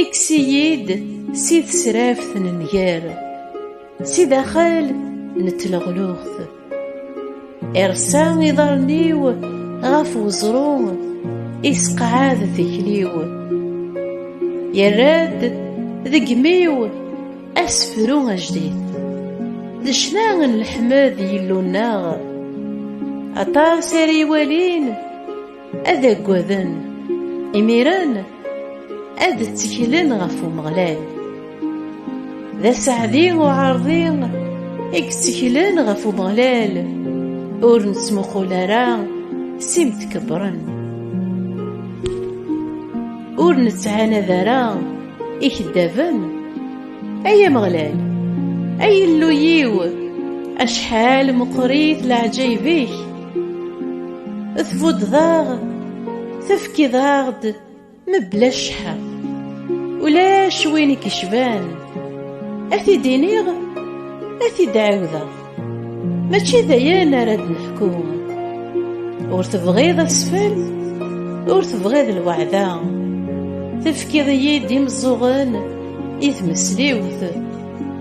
Ikkes-iyi-d si tesraft n nnger, si daxel n tleɣluɣt. Irsa iḍarren-iw ɣef weẓru, isqeɛɛed tikli-w. Yerra-d deg imi-w asefru ajdid. D ccna n leḥmed Yillu-nneɣ, aṭas ara iwalin, Ad aggaden, imiren ad tteklen ɣef Umeɣlal. D aseɛdi uɛerḍi i yetteklen ɣef Umeɣlal, ur nettmuqul ara s imtkebbren. Ur nettɛanad ara ikeddaben, ay Ameɣlal, ay Illu-iw, acḥal meqqrit leɛǧayeb-ik! tbuddeḍ-aɣ tefkiḍ-aɣ-d mebla cceḥḥa ulac win i k-icban ad t-id-iniɣ ad t-id-ɛiwdeɣ mačči d ayen ara d-neḥku ur tebɣiḍ asfel ur tebɣiḍ lweɛda tefkiḍ-iyi-d imeẓẓuɣen i tmesliwt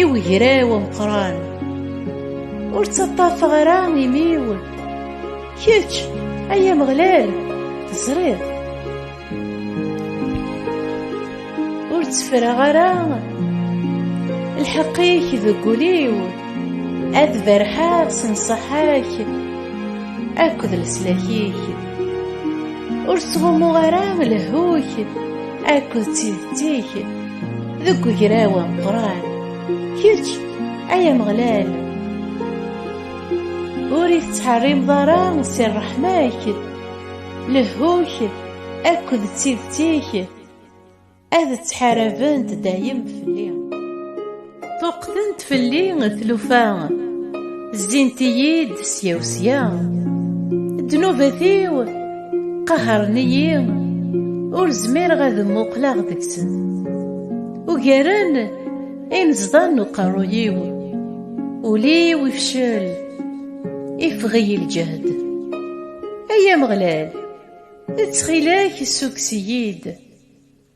i wegraw ameqran ur ttaṭṭafeɣ ara imi-w kečč ay ameɣlal teẓriḍ ur ttefreɣ ara lḥeqq-ik deg ul-iw ad berḥeɣ s nnṣaḥa-k akked leslak-ik ur ttɣummuɣ ara lehhu-k akked tidet-ik deg ugraw ameqqran kečč ay ameɣlal ur ittḥerrimeḍ ara si ṛṛeḥma-k lehhu-k akked d tidet-ik ad ttḥarabent dayem fell-i Ṭuqtent fell-i tlufa Zzint-iyi-d sya u sya Ddnubat-iw qahren-iyi Ur zmireɣ ad mmuqleɣ deg-sen Ugaren inezḍa n uqerruy-iw Ul-iw ifcel Ifeɣ-iyi lǧehd Ay Ameɣlal ttxil-ak ssukkes-iyi-d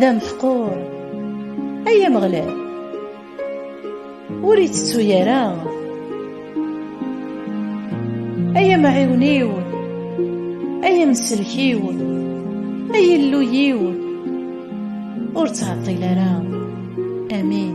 d ameḥqur ay ameɣlal ur ittettu ara ay amɛiwen-iw ay amselk-iw ay illu-iw ur ttɛeṭṭil ara amin